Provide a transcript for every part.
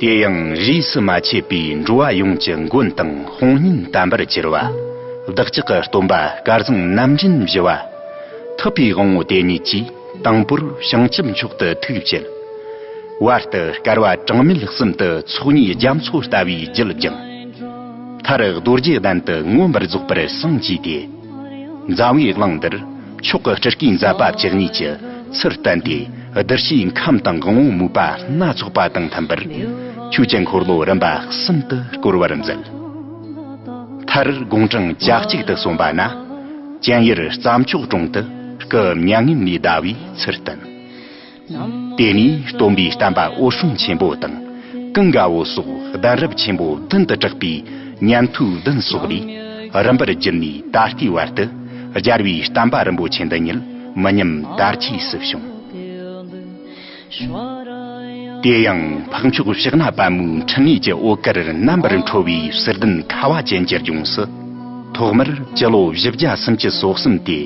དེ་ཡང་རིས་སུ་མ་ཆད་པའི་འགྲོ་བ་ཡོངས་ཀྱི་མགོན་དང་དཔུང་གཉེན་དམ་པར་གྱུར་བ་བདག་ཅག་གི་སྟོན་པ་སྐལ་བཟང་རྣམ་འདྲེན་བཞི་བ་ཐུབ་པའི་དབང་བོ་དེ་ཉིད་ཀྱིས་དང་པོར་བྱང་ཆུབ་མཆོག་ཏུ་ཐུགས་བསྐྱེད། བར་དུ་དཀར་བ་གྲངས་མེད་གསུམ་དུ་ཚོགས་གཉིས་རྒྱ་མཚོ་ལྟ་བུའི་རྒྱུད་བསྒྱིངས། མཐར་རྡོ་རྗེ་གདན་དུ་མངོན་པར་རྫོགས་པར་བསང་བགྱིས་ཏེ། མཛའ་བོའི་གླིང་འདིར་མཆོག་གི་སྤྲུལ་སྐུའི་མཛད་པ་བཅུ་གཉིས་ཀྱི་ཚུལ་བསྟན་ཏེ་བདུད་བཞིའི་ཁམས་དང་དགོངས་མོ་དམིགས་པ་སྣ་ཚོགས་པ་དང་མཐུན་པར་ཆོས་ཀྱི་འཁོར་ལོ་རིམ་པ་གསུམ་དུ་བསྐོར་བར་མཛད། མཐར་དགུང་གྲངས་གྱ་གཅིག་ཏུ་སོན་པ་ན། སྤྱན་ཡར་རྩྭ་མཆོག་དྲུང་དུ་སྐུ་མྱ་ངན་ལས་བཟླ་བའི་ཚུལ་བསྟན། དེ་ནས་སྟོན་པའི་བསྟན་པ་འོད་སྲུང་ཆེན་པོ་དང་ཀུན་དགའ་བོ་སོགས་གདན་རབས་ཆེན་པོ་བདུན་དུ་གྲགས་པའི་ཉན་ཐོས་བདུན་སོགས་ལས་རིམ་པར་བརྒྱུད་ནས་ད་ལྟའི་བར་དུ་སྦྱར་བའི་བསྟན་པ་རིན་པོ་ཆེ་འདི་ཉིད་མི་ཉམས་དར་རྒྱས་སུ་བྱུང། དེ་ཡང་འཕགས་མཆོག་གཤེགས་ན་པད་མོའི་འཕྲིན་ལས་ཀྱི་ཨོ་དཀར་རྣམ་པར་འཕྲོ་བའི་གསེར་གདན་ཁ་བ་ཅན་གྱི་ལྗོངས་སུ། ཐོག་མར་སྤྱི་ལོ་བཞི་བརྒྱ་སུམ་ཅུ་སོ་གསུམ་སྟེ་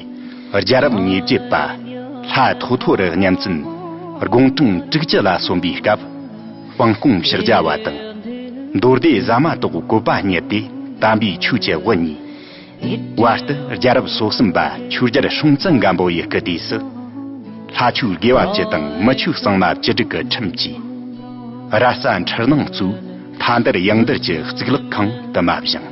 རྒྱལ་རབས་ཉེ་བརྒྱད་པ། ལྷ་ཐོ་ཐོ་རུ་གཉན་བཙུན་དགུང་གྲངས་དྲུག་བཅུ་ལ་སོན་པའི་སྐབས། དཔང་སྐོང་ཕྱག་རྒྱ་བ་དང། མདོ་སྡེ་བཟའ་མ་ཏོག་བཀོད་པ་གཉེར་ཏེ་དམ་པའི་ཆོས་ཀྱི་དབུ་བརྙེས། བར་དུ་རྒྱལ་རབས་སོ་གསུམ་པ་ཆོས་རྒྱལ་སྲོང་བཙན་སྒམ་པོ་ཡི་སྐུ་དུས་སུ། ལྷ་ཆོས་དགེ་བ་བཅུ་དང་མི་ཆོས་གཙང་མ་བཅུ་དྲུག་གི་ཁྲིམས་ཀྱིས། ར་རྩ་འཁྲིལ་སྣང་གཙོས་ལྷ་འདར་ཡང་འདར་གྱི་གཙུག་ལག་ཁང་དུ་མ་བཞེངས།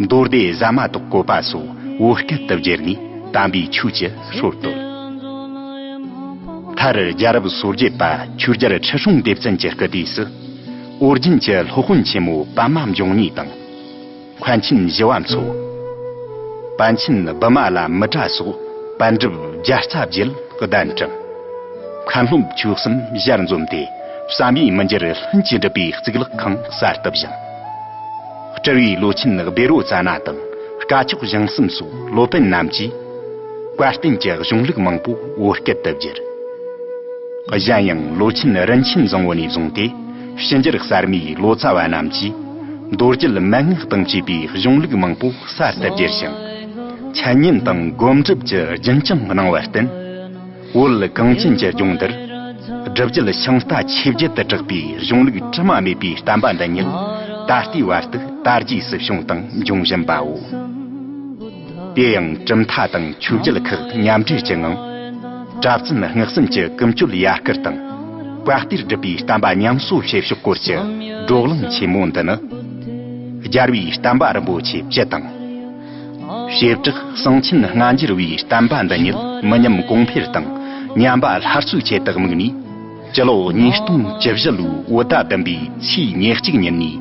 མདོ་སྡེ་གཟའ་མ་ཏོག་བཀོད་པ་སོགས་བོད་སྐད་དུ་བསྒྱུར་ནས་དམ་པའི་ཆོས་ཀྱི་ཧྲུལ་བཏོད། མཐར་རྒྱལ་རབས་སོ་བརྒྱད་པ་ཆོས་རྒྱལ་ཁྲི་སྲོང་ལྡེ་བཙན་གྱི་སྐུ་དུས་སུ། ཨོ་རྒྱན་གྱི་སློབ་དཔོན་ཆེན་མོ་པདྨ་འབྱུང་གཉིས་དང། མཁན་ཆེན་བཞི་བ་མཚོ། པཎ་ཆེན་བི་མ་ལ་མི་ཏྲ་སོགས་པཎ་གྲུབ་བརྒྱ་རྩ་བརྒྱད་གདན་དྲངས། མཁན་སློབ་བཅུ་གསུམ་གཞིར་འཛོམས་ཏེ་བསམ་ཡས་མི་འགྱུར་ལྷུན་གྱིས་འགྲུབ་པའི་གཙུག་ལག་ཁང་གསར་དུ་བཞེངས། སྤྲུལ་བའི་བློ་ཆེན་སྦི་རོ་ཙཱ་ན་དང་དཀའ་ཕྱོགས་བྱང་གསུམ་སོགས་སློབ་དཔོན་རྣམས་ཀྱིས་བཀའ་བསྟན་གྱི་གཞུང་ལུགས་མང་པོ་བོད་སྐད་དུ་བསྒྱུར། གཞན་ཡང་བློ་ཆེན་རིན་ཆེན་བཟང་བོ་ནས་བཟུང་སྟེ། ཕྱི་འགྱུར་གསར་མའི་ལོ་ཙཱ་བ་རྣམས་ཀྱིས་རྡོ་རྗེལ་མན་ངག་དང་བཅས་པའི་གཞུང་ལུགས་མང་པོ་གསར་དུ་བསྒྱུར་ཞིང། འཆད་ཉན་དང་སྒོམ་སྒྲུབ་ཀྱི་རྒྱུན་བསྐྱངས་གནང་བར་བརྟེན། བོད་གངས་ཅན་གྱི་ལྗོངས་འདིར་སྒྲུབ་བརྒྱུད་ཤིང་རྟ་ཆིབས་བརྒྱད་དུ་གྲགས་པའི་གཞུང་ལུགས་དྲི་མ་མེད་པའི་བསྟན་པ་འདི་ཉིད་ད་ལྟའི་བར་དུ་དར་རྒྱས་སུ་བྱུང་དང་འབྱུང་བཞིན་པའོ། དེ་ཡང་གྲུབ་མཐའ་དང་ཆོས་རྒྱལ་ཁག་མཉམ་འབྲེལ་གྱི་ངང། གྲྭ་བཙུན་སྔགས་གསུམ་གྱི་ཀུན་སྤྱོད་ཡར་སྐུལ་དང་བཀའ་གཏེར་སྒྲུབ་པའི་བསྟན་པ་ཉམས་གསོ་བྱེད་ཕྱོགས་སྐོར་གྱི་བགྲོ་གླེང་ཆེན་མོ་འདི་ནི། སྦྱར་བའི་བསྟན་པ་རིན་པོ་ཆེ་བཅུ་དང། བྱེ་བྲག་གསང་ཆེན་ལྔ་འགྱུར་བའི་བསྟན་པ་འདི་ཉིད་མི་ཉམས་གོང་འཕེལ་དང་ཉམས་པ་སླར་གསོའི་ཆེད་དུ་དམིགས་ནས། སྤྱི་ལོ་ཉིས་སྟོང་བཅུ་བཞི་ལོའི་བོད་ཟླ་བདུན་པའི་ཆུའི་ཉེར་གཅིག་ཉིན་ནས་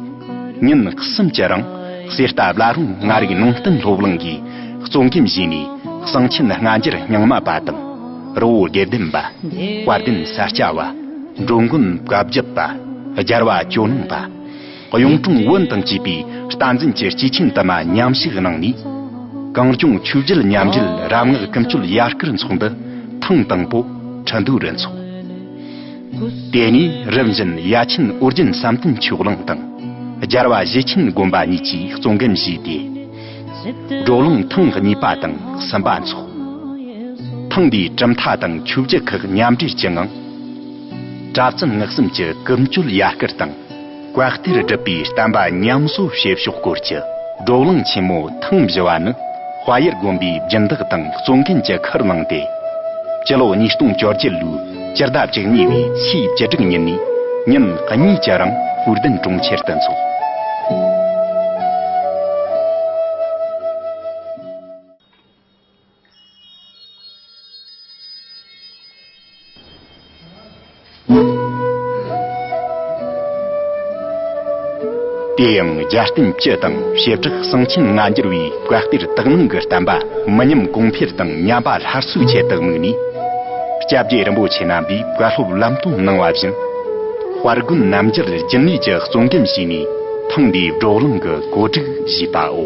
ཉིན་གསུམ་གྱི་རིང་གསེར་རྟ་བླ་རུང་ལྔ་རིག་ནང་བསྟན་སློབ་གླིང་གི་གཙོ་འགན་བཞེས་ནས་གསང་ཆེན་སྔ་འགྱུར་རྙིང་མ་པ་དང་རི་བོ་དགེ་ལྡན་པ། དཔལ་ལྡན་ས་སྐྱ་བ། འགྲོ་མགོན་བཀའ་བརྒྱུད་པ། སྦྱར་བ་ཇོ་ནང་པ། གཡུང་དྲུང་བོན་དང་བཅས་པའི་རྟ་འཛིན་གྱི་སྐྱེས་ཆེན་དུ་མ་ཉམས་ཞིབ་གནང་ནས། གངས་སྐྱོང་ཆོས་རྒྱལ་མཉམ་འབྲེལ་རབ་སྔགས་ཀུན་སྤྱོད་ཡར་སྐུལ་ཚོགས་འདུ་ཐེངས་དང་པོ་ཁྲི་འདུ་རུ་འཚོགས། དེ་ནས་རིམ་བཞིན་ཡ་ཆེན་ཨོ་རྒྱན་བསམ་གཏན་ཆོས་གླིང་དང། རྒྱལ་བ་བཞི་ཆེན་དགོན་པ་གཉིས་ཀྱིས་གཙོ་འགན་བཞེས་ཏེ། བགྲོ་གླེང་ཐེངས་གཉིས་པ་དང་གསུམ་པ་འཚོགས། ཐེངས་འདིའི་གྲུབ་མཐའ་དང་ཆོས་བརྒྱུད་ཁག་མཉམ་འབྲེལ་གྱི་ངང། གྲྭ་བཙུན་བསྔགས་བསམ་གྱི་ཀུན་སྤྱོད་ཡར་སྐུལ་དང་བཀའ་གཏེར་སྒྲུབ་པའི་བསྟན་པ་ཉམས་གསོ་བྱེད་ཕྱོགས་སྐོར་གྱི་བགྲོ་གླེང་ཆེན་མོ་ཐེངས་བཞི་བ་ནི་དཔའ་ཡུལ་དགོན་པའི་སྦྱིན་བདག་དང་གཙོ་འགན་གྱི་ཁུར་བླངས་ཏེ། སྤྱི་ལོ་ཉིས་སྟོང་བཅོ་བརྒྱད་ལོའི་སྤྱི་ཟླ་བཅུ་གཉིས་པའི་ཚེས་བཅུ་དྲུག་ཉིན་ནས་ཉིན་གཉིས་ཀྱི་རིང་དབུས་བདུན་གྲོང་ཁྱེར་དུ་འཚོགས། དེ་ཡང་རྒྱལ་བསྟན་སྤྱི་དང་བྱེ་བྲག་གསང་ཆེན་ལྔ་འགྱུར་བའི་བཀའ་གཏེར་དག་སྣང་གི་བསྟན་པ་མི་ཉམས་གོང་འཕེལ་དང་ཉམས་པ་སླར་གསོའི་ཆེད་དུ་དམིགས་ནས། སྐྱབས་རྗེ་རིན་པོ་ཆེ་རྣམ་པས་བཀའ་སློབ་ལམ་སྟོན་གནང་བ་བཞིན། དཔལ་དགོན་རྣམ་རྒྱལ་རྒྱུན་ལས་ཀྱི་གཙོ་འགན་བྱས་ནས་ཐེངས་འདིའི་བགྲོ་གླེང་གི་གོ་སྒྲིག་བྱས་པའོ།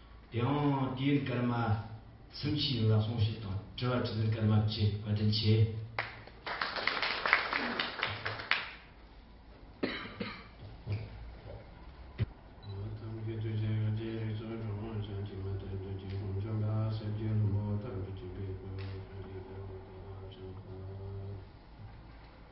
ཡང་དུས་ཡུན་སྐར་མ་སུམ་ཅུའི་རིང་ལ་སོང་ཞིག་དང་དྲི་བ་དྲི་ལན་སྐར་མ་བཅུ་བཀའ་དྲིན་ཆེ།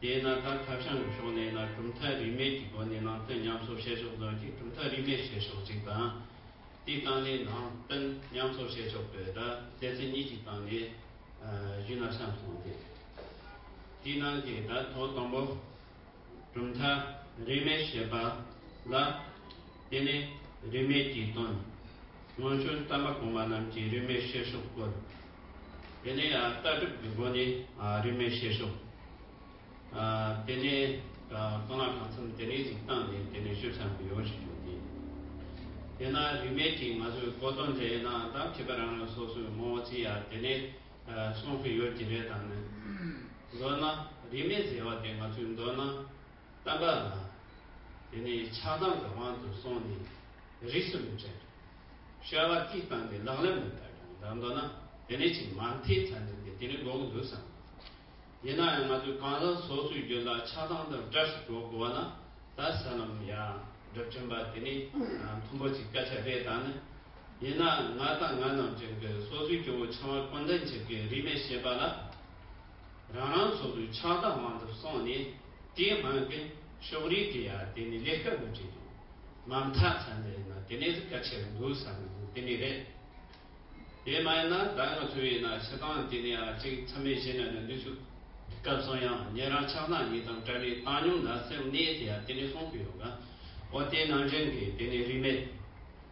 དེས་ན་ད་ཁ་བྱང་གི་ཕྱོགས་ནས་ན་གྲུབ་མཐའ་རིས་མེད་ཀྱི་སྒོ་ནས་ནང་བསྟན་ཉམས་གསོ་བྱེད་ཕྱོགས་དོན་གྱི་གྲུབ་མཐའ་རིས་མེད་བྱེད་ཕྱོགས་གཅིག་དང། དེའི་སྟེང་ནས་ནང་བསྟན་ཉམས་གསོ་བྱེད་ཕྱོགས་དེ་དག་སྡེ་ཚན་གཉིས་ཀྱི་སྟེང་ནས་གཞི་ན་ཆ་མཚུངས་ཏེ། དེའི་ནང་གི་དང་ཐོག་དང་པོ་གྲུབ་མཐའ་རིས་མེད་ཞེས་པ་ལ། དེ་ནི་རིས་མེད་ཀྱི་དོན། སྔོན་བྱོན་གཏམ་པ་གོང་མ་རྣམས་ཀྱིས་རིས་མེད་བྱེད་ཕྱོགས་སྐོར། དེ་ནས་ལྟ་གྲུབ་ཀྱི་སྒོ་ནས་རིས་མེད་བཤད་ཤོག། དེ་ནས་རྐང་ལག་གང་འཚམ་དེ་རིང་ཟིག་བཏང་ནས་དེ་ནས་ཤོད་ཚར་མི་ཡོང་ཞིག་བྱུང་སྟེ། དེས་ན་རིས་མེད་ཀྱིས་ང་ཚོས་གོ་དོན་དེ་ནང་བདག་གིས་པ་རང་རང་སོ་སོའི་ངོ་བོ་ཅི་ཡ་དེ་ནས་གསུང་གི་ཡོད་ཀྱི་རེད་དང་ནི། མདོར་ན་རིས་མེད་ཟེར་བ་དེ་ང་ཚོའི་མདོར་ན་གཏམ་པ་ལ། དེ་ནས་ཆགས་སྡང་གི་དབང་དུ་སོང་ནས་རིས་སུ་མི་བྲལ། བཤད་པ་གཅིག་བཏང་སྟེ་ལག་ལེན་མི་བསྟར་ཀྱང་འདྲ་མདོར་ན་དེ་ནས་ཆེས་མ་མཐའི་ཆ་འདི་སྟེ་དེ་ནི་འགོག་གི་འདུག་བསམ་གི་འདུག་ཡིན་ན་ཡང་ང་ཚོས་གང་ཟག་སོ་སོའི་རྒྱུན་དང་ཆགས་སྡང་དང་བྲལ་སོ་འགྲོ་དགོས་པ་ན་ད་ས་ལམ་ཡང་སྒྲུབ་ཀྱིན་པ་དེ་ནི་མཐོན་པོ་གཅིག་སྐད་ཆ་རེད་ད་ནི། ཡིན་ན་ང་དང་ང་རྣམས་ཅན་གྱི་སོ་སོའི་སྐྱེ་བོ་ཆང་བ་ཀུན་ལྡན་ཅིག་གི་རིས་ནས་བཤད་པ་ལ། རང་རང་ཚོགས་པའི་ཕྱག་བདག་དབང་དུ་སོང་ནས་དེའི་སྔོན་གྱི་ཕྱོགས་རིས་དེ་ཡང་དེ་ནས་ལས་ཀ་མི་བྲེལ་འདུག་མ་མཐའ་ཚང་མས་ན་དེ་ནས་ག་ཆེ་རུ་འདུག་བསམ་གྱི་འདུག་དེ་ནི་རེད། དེ་མ་ཡིན་ན་ད་ང་ཐུ་བའི་ན་ཆེ་སྟངས་དེ་ནི་ཨ་གཅིག་ཚང་མས་ཤེས་ན་ནི་འདི་ཚོས་སྐབས་སོང་ཡང་ཉེ་རང་ཕྱག་བདག་གཉིས་དང་བཀྲ་ནས་བཏང་མྱོང་ན་སེམས་གནས་དེ་ཡང་དེ་ནས་སོང་གི་ཡོད་ག་འོ་དེ་ནང་བཞིན་གྱི་དེ་ནི་རིས་མེད།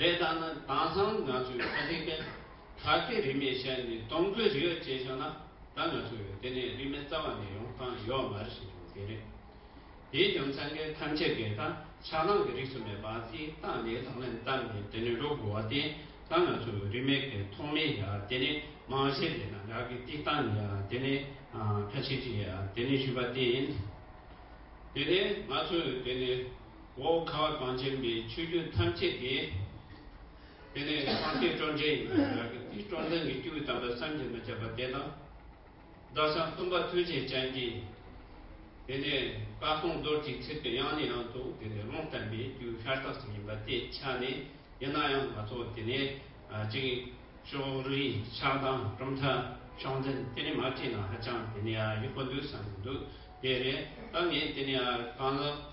རེད་ད་ནི་དེང་སང་ང་ཚོའི་ཁ་ཆེ་མཁན་ད་ལྟའི་རིས་མེད་ཤ་ནི་སྟོང་གྲོས་རིག་ཡོད་ཅེས་བྱུང་ན་ད་ང་ཚོ་ཡོད་དེ་ནས་རིས་མེད་རྩ་བ་ནས་ཡོང་སྟངས་ཡོག་མར་ཞིག་འབྱུང་གི་རེད། དེའི་རྒྱུ་མཚན་གྱིས་ཐམས་ཅད་ཀྱིས་ད་ཆགས་སྡང་གི་རིགས་སུ་མེད་པ་སྲིད་སྟངས་འདི་ལག་ལེན་བསྟར་ནས་དེ་ནས་འགྲོ་དགོས་བ་དེ་ད་ང་ཚོ་རིས་མེད་ཀྱི་ཐོག་མའི་ཡ་དེ་ནི་མང་གཞས་དེ་དང་འདྲ་གི་སྟིག་སྟངས་ཡ་དེ་ནི་ཁ་ཆེ་གི་ཡ་དེ་ནི་ཞུས་པ་དེ་ཡིན། དེ་ནས་ང་ཚོས་དེ་ནི། འོ་ཁ་གངས་ཅན་པའི་ཆོས་རྒྱུད་ཐམས་ཅད་དེ། དེ་ནས་ཨ་ཀེ་སྤྲོ་འདྲེ་ཡིན་པས་ར་ཀེ་ཏིའི་སྤྲོ་འདྲེ་ནི་ཀྱུའི་དམ་པ་བསམ་གྱིས་མི་ཁྱབ་པ་དེ་དང། བདག་ཅག་གཏུམ་པ་ཐུན་ཆེན་ཅན་གྱིས། དེ་ནས་བཀའ་གསུང་རྡོར་གྱིས་ཚིག་གི་དབྱངས་ནི་ཡང་དུ་དེ་ནས་ཀློང་བསྟན་པའི་རྒྱུད་ཤར་རྟགས་ཤིག་ཡིན་པ་དེ་ཆ་ནས་ཡིན་ན་ཡང་ང་ཚོ་དེ་ནས་གཅིག། ཤོག་རིའི་ཕྱག་དང་གྲུབ་མཐའ་ཕྱོགས་འཛིན་དེ་ནི་མ་བྲིས་ན་ཧ་ཅང་དེ་ནས་ཡག་པོ་འདུག་བསམ་གྱི་འདུག་དེ་རེད་ད་ངས་དེ་ནས་གང་ལགས།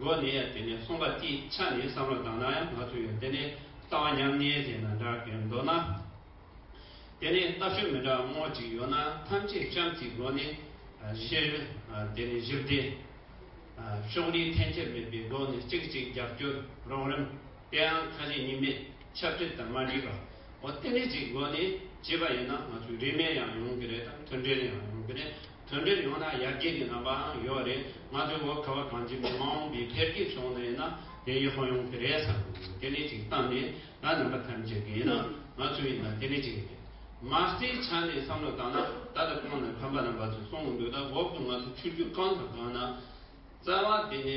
ལོ་ནས་དེ་ནས་གསུངས་པ་དེ་ཆ་ནས་བསམ་བློ་བཏང་ན་ཡང་ང་ཚོ་ཡོད་དེ་ནས་རྩ་བ་ཉམས་ཉེས་ཅན་ན་འདྲ་གས་མདོར་ན། དེ་ནས་ལྟ་སྤྱོད་མི་འདྲ་དངོས་ཅིག་ཡོད་ན་ཐམས་ཅད་གཤམ་གྱི་སྒོ་ནས་གཞི། དེ་ནས་གཞི་བདེ། ཕྱོགས་རིས་འཐེན་འཁྱེར་མེད་པའི་སྒོ་ནས་གཅིག་གཅིག་རྒྱབ་སྐྱོར་རོགས་རིམ། དེའང་ཁ་ཞེ་གཉིས་མེད་ཆབ་སྤྲིལ་དང་མ་འདྲིས་པ། འོ་སྟེ་ནད་ཅིག་སྒོ་ནས་བྱས་པ་ཡིན་ན་ང་ཚོའི་རིས་མེད་ཡང་ཡོང་གི་རེད་དམ་མཐུན་འབྲེལ་ཡང་ཡོང་གི་རེད། དོན་འབྲས་ཡོང་ན་ཡར་རྒྱས་ཀྱི་རྣམ་པའང་ཡོད་རེད་ང་ཚོའི་བོད་ཁ་བ་གངས་ཅན་མི་མང་གི་འཕེལ་རྒྱས་བྱུང་ནས་ན་དེ་ཡིན་ཧོ་ཡོང་གི་རེད་བསམ་དེ་ནི་ཅིག་གཏམ་ནི་ང་རྣམ་པ་ཐམས་ཅད་ཀྱི་ཡིན་ན་ང་ཚོ་ཡིན་ན་དེ་ནི་ཅིག་རེད་མ་རྩའི་ཆ་ནས་བསམ་བློ་བཏང་ན་ད་ལྟ་ཁོང་ནས་ཕམ་པ་རྣམ་པ་ཚོས་གསུང་གི་འདུག་ད་འོག་ཏུ་ང་ཚོ་ཆུ་རྒྱུས་གང་དང་གང་ན་རྩ་བ་དེ་ནི།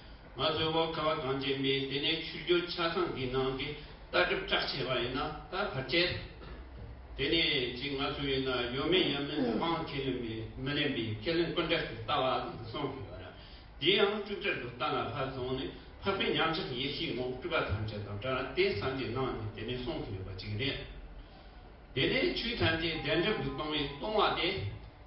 ང་ཚོའི་བ་ཁ་བ་གངས་ཅན་པས་དེ་ནས་ཆུ་རྒྱུད་ཆ་ཚང་གི་ནང་གི་ལྟ་གྲུབ་སྐྲག་བྱས་པ་ཡིན་ན་ད་བར་བྱས། དེ་ནས་ཅིག་ང་ཚོ་ཡིན་ན་ཡོད་མེད་ཡང་མིན་ལས་དབང་ཁས་ལེན་པའི་མི་ལེན་པའི་ཁས་ལེན་ཀུན་བྲལ་གྱི་ལྟ་བ་ལ་ཡིན་སོང་གི་ཡོད། དེ་ཡང་སྤྲུལ་བྲལ་གྱི་གཏམ་ལ་ཕར་བཟུང་ནས་འཕགས་པའི་ཉམས་ཆག་ཡེ་ཤེས་ངོགས་སྤྲུལ་པ་ཐམས་ཅད་དང་བྲལ་དེ་བསམ་གྱིས་ནང་ནས་དེ་ནས་གསུངས་གི་ཡོད་པ་ཅིག་རེད། དེ་ནས་ཆོས་ཐམས་ཅད་བདེན་གྲུབ་ཀྱི་སྟོང་བའི་སྟོང་བ་དེ།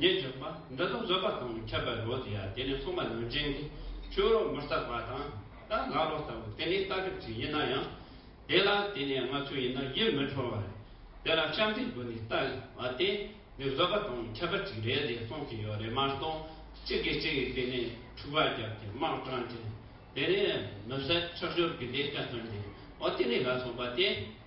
ཉེ་རྒྱུག་པ་འདི་དག་བཟོད་པ་དང་ཁྱབ་པའི་རོ་དེ་ཡང་དེ་ནས་གསུངས་པ་ནང་བཞིན་གྱི་ཆོས་རོ་མི་རྟག་པ་དང་རྟ་ལྷ་རོ་ལྟ་བུ་དེ་ནི་རྟ་གྲིབ་ཅིག་ཡིན་ན་ཡང་དེ་ལ་དེ་ནས་ལྔ་ཚུན་ཡིན་ན་ཡིད་མི་འཕྲོ་བ་རེད། དེ་ལ་ཤམ་བྷའི་བུ་ནི་ལྟ་བ་དེ་ནི་བཟོད་པ་དང་ཁྱབ་པ་ཅིག་རེད་ཅེས་གསུངས་ཀྱི་ཡོད་རེད་མ་གཏོགས་གཅིག་གིས་གཅིག་གིས་དེ་ནས་འཁྲུག་པ་བརྒྱབ་སྟེ་དམག་དྲངས་ཏེ་དེ་ནས་མི་བསད་ཕྱག་སྦྱོར་གྱི་ལས་ཀ་སྟོན་ཏེ་འོ་དེ་ནས་ལ་སོགས་པ་དེ།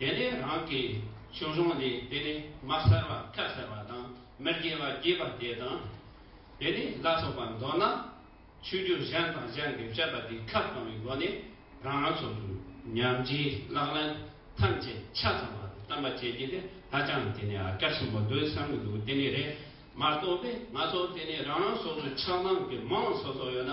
དེ་ནས་རང་གི་ཕྱོགས་ལྷུང་ལས་དེ་ནས་མ་གསར་བ་ཁ་གསར་བ་དང་མི་དགེ་བ་བརྒྱད་པ་དེ་དང། དེ་ནས་ལ་སོགས་པ་མདོར་ན་ཆོས་བརྒྱུད་གཞན་དང་གཞན་གྱི་བཤད་པ་དེ་ཁ་བསྐང་བའི་སྒོ་ནས་རང་རང་ཚོ་དུས་མཉམ་རྗེས་ལག་ལེན་ཐམས་ཅད་ཆ་ཚང་བར་བསྟན་པ་བྱེད་རྒྱུ་དེ་ཧ་ཅང་དེ་ནས་ཨ་སྐལ་ཆེན་པོ་འདོད་བསམ་གྱི་འདུག་དེ་ནས་རེད་མ་གཏོགས་པས་ང་ཚོ་དེ་ནས་རང་རང་སོ་སོའི་ཆགས་སྡང་གི་མིང་སོ་སོ་ཡོད་ན།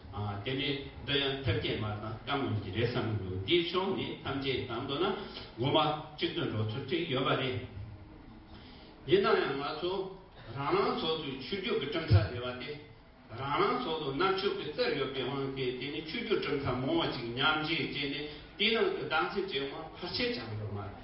དེ་ནས་འདི་ཡང་ཐབས་སྐྱེད་མ་དང་བསྐང་ངོ་ཞིག་རེད་བསམ་གི་འདུག་འདིའི་ཕྱོགས་ནས་ཐམས་ཅད་དང་མདོར་ན་སྒོ་མ་གཅིག་ཏུ་འགྲོ་ཚུལ་ཅིག་ཡོད་པ་རེད། ཡིན་ན་ཡང་ང་ཚོ་རང་རང་ཚོགས་ཚུད་ཆོས་རྒྱུད་ཀྱི་གྲུབ་མཐའ་དེ་བ་སྟེ། རང་རང་ཚོགས་དུ་གནར་ཆོས་ཀྱི་རྩེར་ཡོད་པའི་དབང་གིས་དེ་ནི་ཆོས་རྒྱུད་གྲུབ་མཐའ་མང་བ་ཅིག་མཉམ་བཞེས་བྱས་ནས་དེའི་ནང་དུ་གདམས་གསེས་བྱེད་དབང་ཕར་ཆེར་བྱ་འགྲོ་མ་རེད།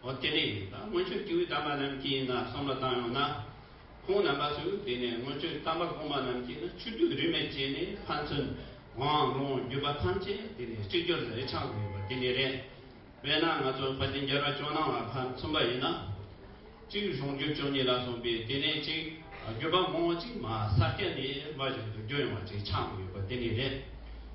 འོ་དེ་ནས་ད་སྔོན་ཆོས་སྐྱིད་དམ་པ་རྣམས་ཀྱིས་ན་བསམ་བློ་བཏང་ཡོང་ན། ཁོང་རྣམ་པ་ཚོས་དེ་ནས་སྔོན་ཆོས་དམ་པ་གོང་མ་རྣམས་ཀྱིས་ན་ཆོས་དུས་རིས་མེད་བྱས་ནས་ཕན་ཚུན་དབང་ལུང་བརྒྱུད་པ་ཐམས་ཅད་དེ་ནས་གཅིག་གྱུར་ལས་ཆགས་དགོས་པ་དེ་ནས་རེད། དཔེར་ན་ང་ཚོ་ཕ་དེ་འགྱར་བ་ཅོ་ནང་ལ་ཕ་མཚོན་པ་ཡིན་ན། གཅིག་གཞུང་བརྒྱུད་ཅོ་གཉིས་ལ་གསུངས་པའི་དེ་ནས་གཅིག་བརྒྱུད་པ་མང་བོ་ཅིག་མ་ས་སྐྱ་ནས་མ་གཞུང་དུ་བརྒྱུད་ཡོང་བ་ཅིག་ཆགས་དགོས་པ་དེ་ནས་རེད།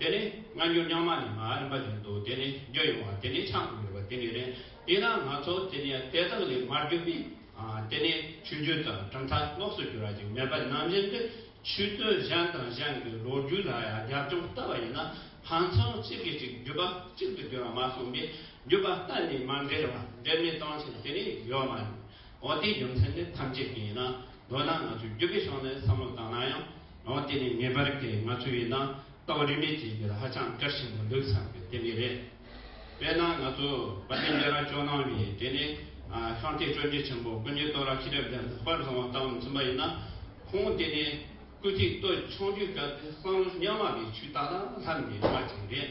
དེ་ནི་སྔ་འགྱུར་རྙིང་མ་ནས་མར་མ་བྱུང་འདུག་དེ་ནས་བརྒྱུད་ཡོང་བ་དེ་ནི་ཆགས་མི་དགོས་པ་དེ་ནི་རེད། དེས་ན་ང་ཚོ་དེ་ནས་དེ་དག་ལས་མར་བརྒྱུད་པའི་དེ་ནས་ཆུ་རྒྱུན་དང་གྲུབ་མཐའ་ལོགས་སུ་གྱུར་བ་ཅིག་མེད་པར་ནམ་བཞིན་དུ་ཆུ་སྟོད་གཞན་དང་གཞན་གྱི་ལོ་རྒྱུས་ལ་ཡང་རྒྱབ་ལྗོངས་ལྟ་བ་ཡིན་ན་ཕན་ཚུན་གཅིག་གིས་གཅིག་བརྒྱུད་པ་གཅིག་ཏུ་གྱུར་བ་མ་གསུངས་པས་བརྒྱུད་པ་གཏན་ནས་མ་འབྲེལ་བ་འབྲེལ་མེད་གཏང་ཆེད་དེ་ནས་ཡོད་མ་རེད། འོ་དེའི་རྒྱུ་མཚན་ནི་ཐམས་ཅད་ཀྱི་ཡིན་ན། མདོར་ན་ང་ཚོས་རྒྱུ་དགེ་སྦྱོང་ནི་བསམ་བློ་བཏང་ན་ཡང། འོ་དེ་ནི་ངེས་པར་དེ་ང་ཚོས་ཡིན་ན། ལྟ་བ་རིས་མེད་ཅིག་འདིར་ཧ་ཅང་དཀར་ཞིང་མི་ལུས་ཙམ་གྱི་དེབ་ངེས་རེད། དཔེར་ན་ང་ཚོ་བ་དན་རྒྱལ་རང་སྐྱོང་གནང་བའི་དེ་ནི། ཤོང་སྟེ་སྤྲོ་འཇིགས་ཆེན་པོ་སྐུ་ཉིད་གཏོ་ར་ཁྱི་རབས་ལས་ལྷག་པར་བཟང་བ་ལྟ་བུ་མཚོན་པ་ཡིན་ན། ཁོང་དེ་ནི་སྐུ་ཚེའི་སྟོད་ཆུང་དུས་སྐབས་དེ་བསམ་བློ་ཉམས་དམའ་བའི་ཆུ་རྟ་དང་ལྷམ་གྱི་དམག་ཅིག་རེད།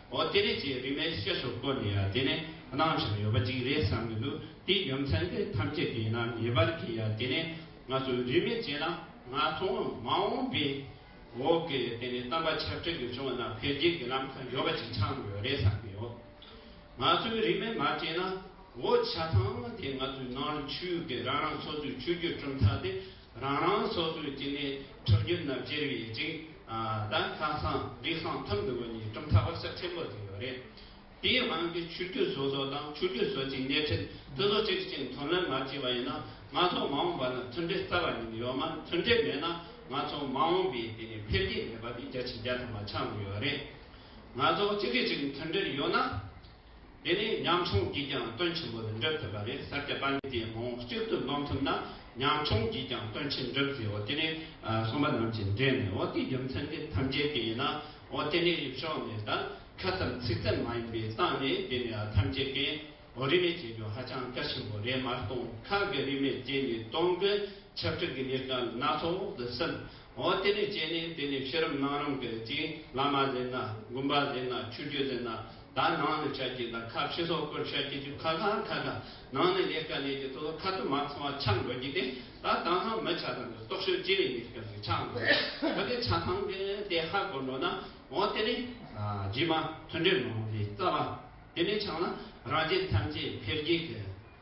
འོ་དེ་རེད་ཅེས་རིན་མའི་གཤེད་སོགས་བཀོལ་ནས་ཡང་དེ་ནས་གནང་བཞག་ཡོད་པ་ཅིག་རེད་བསམ་གྱི་འདུག་དེའི་རྒྱུ་མཚན་དེ་ཐམས་ཅད་ཀྱི་ནང་ངེས་པར་གྱི་ཡང་དེ་ནས་ང་ཚོས་རིན་མེད་བྱས་ན་ང་ཚོ་མ་འོངས་པའི་འོག་གི་དེ་ནས་གཏམ་པ་ཆབ་ཁྲལ་གྱི་བྱུང་བ་རྣམས་འཕེལ་རྒྱས་ཀྱི་ལམ་ཁ་ཡོད་པ་ཅིག་ཆགས་ཡོད་རེད་བསམ་གྱི་ཡོད། ང་ཚོས་རིན་མེད་མ་བྱས་ན་འོ་ཆ་ཚང་དེ་ང་ཚོའི་ནང་ཆོས་ཀྱི་རང་རང་སོ་སོའི་ཆོས་བརྒྱུད་གྲུབ་མཐའ་དེ། རང་རང་སོ་སོའི་སྐྱེ་གནས་ཁྲག་རྒྱུན་རྣམས་ཅེར་བའི་རྗེས་ལ་ཁ་སང་རིགས་སང་ཐང་དུ་བོད་ཉིས་སྟོང་ཕྲག་པ་ས་ཆེན་པོར་བསྡད་ཡོད་རེད། དེའི་དབང་གིས་ཆོས་རྒྱུད་སོ་སོ་དང་ཆོས་རྒྱུད་སོ་སོའི་གནས་ཁྲིད་དེ་ཚོ་གཅིག་གཅིག་མཐུན་ལེན་མ་བྱས་པ་ཡིན་ན་ང་ཚོ་མ་འོངས་པ་ན་མཐུན་འབྲེལ་རྩ་བ་ཉིད་ཡོད་མ་མཐུན་འབྲེལ་མེད་ན་ང་ཚོ་མ་འོངས་པའི་དེ་ནས་འཕེལ་རྒྱས་མེད་པ་དེ་རྒྱ་ཆེ་རྒྱ་ཐོག་མ་ཆགས་ནི་ཡོད་རེད། ང་ཚོ་གཅིག་གིས་གཅིག་མཐུན་འབྲེལ་ཡོད་ན། དེ་ནི་ཉམ་ཆུང་གིས་ཀྱང་བསྟོད་ཆེན་པོ་འདི་འགྲུབ་ཐུབ་པ་རེད་ཟེར་ཏེ་པར་འདི་མང་བོ་གཅིག་ཏུ་སྣོམ་ཐུབ་ན་ཉམ་ཆུང་གིས་ཀྱང་བསྟོད་ཆེན་འགྲུབ་ཟེར་འོ་དེ་ནི་གསུམ་པ་རྣམས་ཀྱི་འགྲེལ་ནས་འོ་དེའི་རྒྱུ་མཚན་འདི་ཐམས་ཅད་ཀྱི་ཡིན་ན་འོ་དེ་ནི་རིགས་ཕྱོགས་ནས་དང་ཁ་ཙམ་ཚིག་ཙམ་མ་ཡིན་པའི་སྟངས་ནས་འདི་ནི་ཐམས་ཅད་ཀྱི་འོ་རིས་མེད་ཅེས་རྒྱུ་ཧ་ཅང་གལ་ཆེན་པོ་རེད་མར་སྟོང་ཁ་གི་རིས་མེད་དེ་ནི་སྟོང་གི་ཁྱབ་འཁྲིད་ཀྱི་གཉེར་ཁ་སྣ་ཚོགས་འོག་ཏུ་སིམ་འོ་དེ་ནི་བྱས་ནས་དེ་ནི་ཕྱི་རིམ་ནང་རིམ་གྱི་གཅིག་བླ་མ་ཟེར་ན་དགོན་པ་ཟེར་ན་ཆོས་བརྒྱུད་ཟེར་ན་དང་ནང་ནས་ཆ་རྐྱེན་དང་ཁ་ཕྱེ་སོགས་སྐོར་ཆ་རྐྱེན་གྱི་ཁ་གང་ཁ་གང་ནང་ནས་ལས་དཀའ་ལས་ཀྱི་ཐོག་ལ་ཁ་དོག་མ་ཚང་བ་ཆགས་འགྲོ་གི་དེ་ད་དང་ལྷག་མི་ཆ་ཚང་གི་རྟོག་ཞིབ་ཅི་རིགས་གནས་སྐབས་སུ་ཆགས་འགྲོ་གི་ད་གི་ཆ་ཚང་གི་དེ་ཧ་གོ་འགྲོ་ན་འོ་དེ་ནི་རྗེས་མ་མཐུན་འབྲེལ་མང་པོ་ཞིག་རྩ་བ་དེ་ནས་ཆགས་ན་རང་རྒྱལ་ཐམས་ཅད་འཕེལ་རྒྱས་ཀྱི།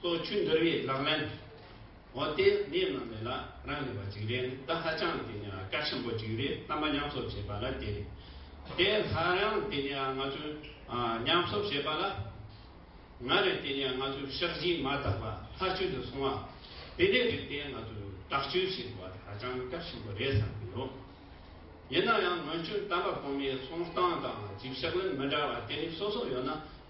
ལྟོ་ཆུ་འདུར་བའི་ལག་ལེན། འོ་དེ་ནས་ནང་མི་ལ་རང་ལས་པ་ཅིག་རེད་ད་ཧ་ཅང་དེ་ནས་དཀའ་ཆེན་པོ་ཅིག་རེད་རྣམ་པ་མཉམ་གསོབ་བྱེད་པ་ལ་དེ་རེད་དེ་སླར་ཡང་དེ་ནས་ང་ཚོས་མཉམ་གསོབ་བྱེད་པ་ལ་ང་རེད་དེ་ནས་ང་ཚོས་ཕྱག་བཞི་མ་དག་པ་ལྷ་ཆོས་དུ་སོང་བ་དེ་འདྲའི་རིགས་དེ་ང་ཚོས་དྲག་སྤྱོད་བྱེད་དགོས་པ་དེ་ཧ་ཅང་དཀའ་ཆེན་པོ་རེད་བསམ་གྱི་ཡོད། ཡིན་ན་ཡང་སྔོན་བྱོན་དམ་པ་གོང་མའི་གསུང་སྟངས་དང་སྒྲིབ་ཕྱག་ལེན་མི་འདྲ་བ་དེ་རིགས་སོ་སོ་ཡོད་ན་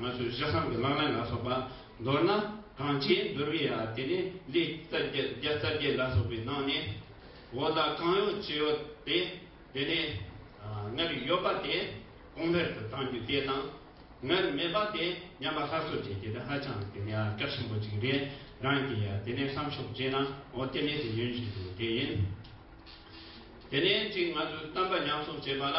ང་ཚོས་གཞི་བསམ་གྱི་ལག་ལེན་ལ་སོགས་པ་འདོར་ན་གང་ཅིའི་འདོར་བའི་ཡ་དེ་ནི་ལས་རྩ་བརྒྱད་རྩ་བརྒྱད་ལ་སོགས་པའི་ནང་ནས་འོ་ད་གང་ཡོད་ཅི་ཡོད་དེ་དེ་ནས་སྔར་ཡོད་པ་དེ་གོང་འཕེལ་དུ་བཏང་རྒྱུ་དེ་དང་སྔར་མེད་པ་དེ་ཉམས་པ་ཧ་སོ་བྱེད་རྒྱུ་དེ་ཧ་ཅང་གི་ཡ་སྐལ་ཆེན་པོ་ཅིག་རེད་རང་གི་ཡ་དེ་ནས་བསམ་ཤོག་ཅེ་ན་འོ་དེ་ནི་དེ་ཡོན་བཞིན་དུ་དེ་ཡིན། དེ་ནས་ཅིག་ང་ཚོས་གཏམ་པ་ཉམས་གསོག་བྱེད་པ་ལ།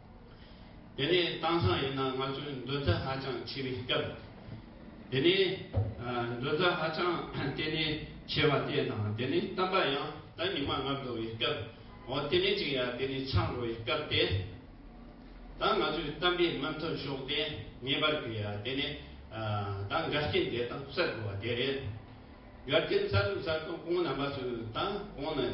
དེ་ནས་དྭངས་གཙང་ཡིན་ན་ང་ཚོའི་འདོན་རྩ་ཧ་ཅང་ཆེ་བའི་སྐབས། དེ་ནས་འདོན་རྩ་ཧ་ཅང་བརྟན་གནས་ཆེ་བ་དེ་དང་དེ་ནས་གཏམ་པ་ཡང་ད་ཉི་མ་ལྔ་བདོ་བའི་སྐབས་འོ་དེ་ནས་ཅིག་ཡ་དེ་ནས་ཆག་འགྲོ་བའི་སྐབས་དེ་དང་ང་ཚོའི་གཏམ་པའི་མི་མཐུན་ཕྱོགས་དེ་ངེས་པར་དུ་ཡ་དེ་ནས་ད་འགལ་རྐྱེན་དེ་དང་བསལ་དགོས་བ་དེ་རེད་འགལ་རྐྱེན་བསལ་དུ་བསལ་དུ་གོང་རྣམ་པ་ཚོས་ད་གོང་ནས།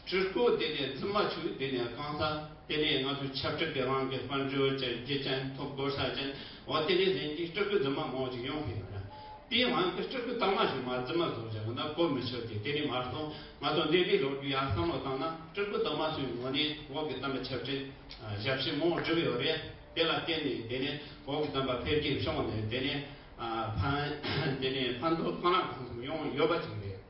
སྤྲུལ་སྐུ་དེ་ནས་རྫུན་མ་བྱུག་དེ་ནས་རྐང་ཚ་དེ་ནས་ང་ཚོའི་ཆབ་སྤྲུལ་དེ་རང་གི་དཔལ་འབྱོར་ཅན་རྒྱུ་ཅན་ཐོབ་དགོས་ས་ཅན་འོ་དེ་ནས་ཟིན་གྱི་སྤྲུལ་སྐུ་རྫུན་མ་མང་བོ་ཅིག་ཡོང་གི་ཡོད་རེད་དེ་ཡང་རང་གི་སྤྲུལ་སྐུ་དག་མ་ཞིག་མ་རྫུན་མ་བཟོ་བཞག་གི་ན་གོ་མི་ཆོད་དེ་དེ་ནས་མར་སོང་ང་ཚོ་འདི་འདྲའི་ལོ་རྒྱུས་ཡག་བསམ་བློ་བཏང་ན་སྤྲུལ་སྐུ་དག་མ་ཚོའི་ངོ་ནས་འོག་གི་གཏམ་པ་ཆབ་སྤྲིལ་ཞབས་ཕྱི་མང་བོ་བསྒྲུབས་ཡོད་རེད་དེ་ལ་བརྟེན་ནས་དེ་ནས་འོག་གི་གཏམ་པ་འཕེལ་རྒྱས་བྱུང་ནས་དེ་ནས་ཕན་དེ་ནས་ཕན་ཐོག་གང་ན་གང་འཚམ་ཡོང་ཡོད་པ་ཅིག་རེད།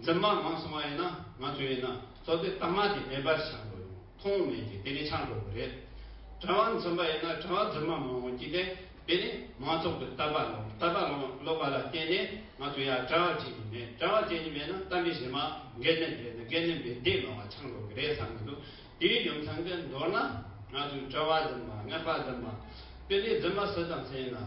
འཛིན་མ་མང་སོང་བ་ཡིན་ན་ང་ཚོས་ཡིན་ན་གཙོ་དོན་གཏའ་མ་དེ་མེད་པར་བྱ་དགོས་རུང་མཐོང་མེད་ཀྱི་དེ་ནི་ཆགས་འགྲོ་གི་རེད། དྲ་བ་འཛིན་པ་ཡིན་ན་དྲ་བ་འཛིན་མ་མང་བོ་བགྱིས་ཏེ་དེ་ནི་མང་ཚོགས་ཀྱི་ལྟ་བ་ལོང་ལྟ་བ་ལོང་ལོག་པ་ལ་བརྟེན་ནས་ང་ཚོ་ཡང་དྲ་བ་བྱེད་ཀྱི་མེད་དྲ་བ་བྱེད་ཀྱི་མེད་ན་གཏམ་དཔེ་བཞིན་མ་འགལ་ནས་འགལ་ན་འགལ་ནས་མི་འདེད་མང་བ་ཆགས་འགྲོ་གི་རེད་བསམ་གྱི་འདུག་དེའི་རྒྱུ་མཚན་གྱིས་མདོར་ན་ང་ཚོས་དྲ་བ་འཛིན་པ་ངན་པ་འཛིན་མ་དེ་ནི་འཛིན་མ་སུ་དང་སུ་ཡིན་ན་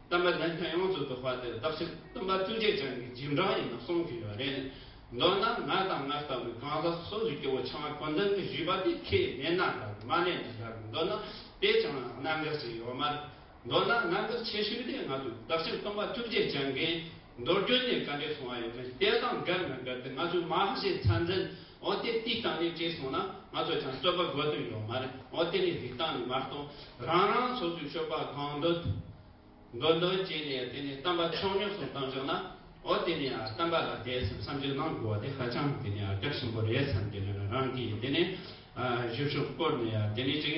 བསྟན་པ་བདེན་མཐའ་ཡོངས་སུ་རྫོགས་པ་དེ་བདག་ཆེན་བསྟན་པ་ཐུགས་རྗེ་ཅན་གྱི་རྗེས་འབྲང་ཡིན་ན་གསུངས་ཀྱི་ཡོད་རེད། མདོར་ན་ང་དང་ང་ལྟ་བུའི་གང་ཟག་སོ་སོའི་སྐྱེ་བོ་ཆང་བ་གོ་འདོན་གྱི་བཞུད་པ་དེ་ཁས་ལེན་ན་འདྲ་མ་ལེན་ན་འདྲ་དགོས་འདོད་ན་དེ་ཅང་རྣམ་དཀར་ཞིག་ཡོད་མ་རེད། མདོར་ན་རྣམ་དཀར་ཆེ་ཤོས་དེ་ང་ཚོའི་བདག་ཆེན་སྟོན་པ་ཐུགས་རྗེ་ཅན་གྱི་མདོར་བསྡུས་ནས་བཀའ་འདྲི་གསུང་བ་ཡོད་མེད་དེ་དང་འགལ་མི་འགལ་དེ་ང་ཚོའི་མ་ཧཱའི་མཚན་འཛིན་འོ་དེ་དུས་དང་ནས་བྲིས་སོང་ན་ང་ཚོ་ཀྱང་རྩོད་པ་དགོས་དོན་ཡོད་མ་རེད་འོ་དེ་ནས་རིག་སྟངས་ནས་མ་གཏོགས་རང་རང་ཚོ་ཚོའི་ཆོས་པ་གང་འདོད་འདོད་འདོད་བྱས་ནས་དེ་ནས་གཏམ་པ་ཆོག་ཉོག་གསུང་གཏང་བཅུག་ན་འོ་དེ་ནས་གཏམ་པ་ལ་དེ་བསམ་བསམ་གྱིས་གནང་དགོས་བ་དེ་ཧ་ཅང་དེ་ནས་སྐྱབས་ཆེན་པོ་རེད་བསམ་གྱིས་རང་གིས་དེ་ནས་གཞུ་བཞུགས་བསྐོར་ནས་དེ་ནས་ཅིག།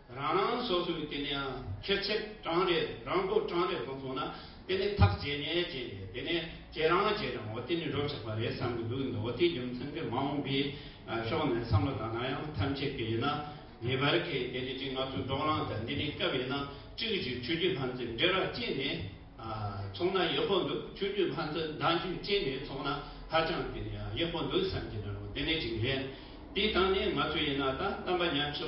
རང་རང་སོ་སོའི་དེ་ནས་ཁེར་ཚད་གྲངས་རེ་རང་སྒོར་གྲངས་རེ་གོང་སོང་ན་དེ་ནས་ཐག་བཅད་ནས་བཅད་ནས་དེ་ནས་ཁྱེད་རང་ཁྱེད་རང་འོ་དེ་ནས་འགྲོ་ཆོག་པ་རེད་བསམ་གྱི་འདུག་འོ་དེའི་རྒྱུ་མཚན་གྱི་མ་འོངས་པའི་ཕྱོགས་ནས་བསམ་བློ་དང་ན་ཡང་ཐམས་ཅད་ཀྱི་ཡིན་ན་ངེས་པར་གྱི་དེ་ནས་ཅིག་ང་ཚོ་འབྲོག་གླང་དང་འདི་ནས་སྐབས་ཡིན་ན་གཅིག་གཅིག་ཆོས་རྒྱུད་ལྷ་འཛིན་འབྲེལ་ར་བཅད་ནས་ཚོང་ན་ཡག་པོ་འདུག་ཆོས་རྒྱུད་ལྷ་འཛིན་བདག་འཇུས་བཅད་ནས་ཚོང་ན་ཧ་ཅང་དེ་ནས་ཡག་པོ་འདུག་བསམ་གྱི་ན་རུང་དེ་ནས་ཅིག་རེད་དེའི་སྟངས་ནས་ང་ཚོ་ཡིན་ན་ད་གཏམ་པ་ཉམས་ཆུ་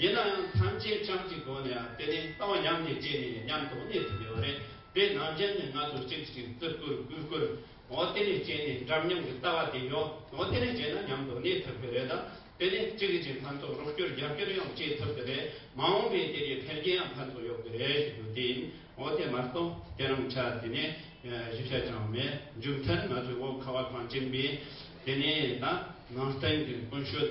ཡིན་ན་ཡང་ཐམས་ཅད་བྱམས་ཀྱི་སྒོ་ནས་དེ་ནི་ལྟ་བ་ཡམས་ཀྱི་རྗེས་ནས་མཉམ་དུ་གནས་ཐུབ་ཡོད་རེད་དེ་ནང་བྱན་ནས་ང་ཚོ་གཅིག་གཅིག་བརྩི་བཀུར་གུས་བཀུར་འོ་དེ་ནས་རྗེས་ནས་འདྲ་མཉམ་གྱི་ལྟ་བ་དེ་ཡོད་འོ་དེ་ནས་རྗེས་ན་མཉམ་དུ་གནས་ཐུབ་ཀྱི་རེད་དེ་ནས་གཅིག་གིས་གཅིག་ཕན་ཐོགས་རོགས་སྐྱོར་རྒྱབ་སྐྱོར་ཡང་བྱེད་ཐུབ་ཀྱི་རེད་མ་འོངས་པའི་དེ་གའི་འཕེལ་རྒྱས་ཡང་ཕན་ཐོགས་ཡོད་ཀྱི་རེད་ཞེས་བརྗོད་དེ་ཡིན་འོ་དེ་མ་གཏོགས་དེ་རང་ཆ་དེ་ནས་ཞིབ་ཆ་ཅང་མེད་མཇུག་མཐར་ང་ཚོའི་འོག་ཁ་བ་གངས་ཅན་པས་དེ་ནས་ད་ནང་བསྟན་གྱི་ཀུན་སྤྱོད།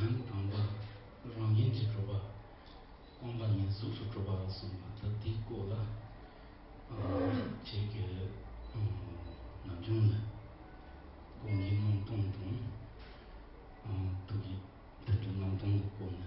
ཡང་དང་པོར་རང་ཡན་གྱི་སྤྲོ་བ་སྤངས་པ་ནི་གཟུགས་སུ་སྤྲོ་བ་གསུངས་པ་ད་དེའི་སྐོར་ལ་བྱེད་ཀྱི། ནམ་བྱུང་ལ་སྒོམ་གྱི་སྣང་སྟོང་དང། ཐུགས་ཀྱི་དལ་འབྱོར་སྣང་སྟོང་གི་སྐོར་ནི།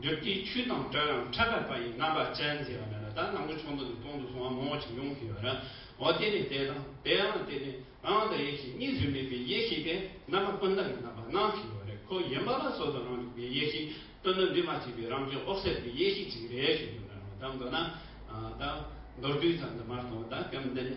འདུལ་སྐྱེས་ཆུ་དང་བྲལ་ལ་འཕྲད་པའི་བ་ཡི་རྣམ་པ་ཅན་མཛེས་པ་མེད་པ་དང་ནང་གི་ཆུ་མདོག་གིས་སྟོང་དུ་སོང་བ་མང་བོ་ཅིག་ཡོང་གི་ཡོད། འོ་དེ་ནི་དེ་དང་དེའང་དེ་ནི་རང་དང་ཡེ་ཤེས་གཉིས་སུ་མེད་པའི་ཡེ་ཤེས་དེ་རྣམ་པ་ཀུན་བཏགས་ཀྱི་རྣམ་པ་སྣང་གི་ཡོད་རེད་ཁོ་ཡིན་པ་ལ་སོ་སོ་རང་རིག་པའི་ཡེ་ཤེས་སྟོན་ནོ་འདི་མ་སྐྱེས་པའི་རང་བྱུང་འོག་སད་པའི་ཡེ་ཤེས་ཅིག་རེད་ཞེས་བརྗོད་ན་རུང་ད་མདོར་ན། ད་མདོར་བསྡུས་ཙམ་དུ་མ་གཏོགས་ད་གམ་འདི་ནི།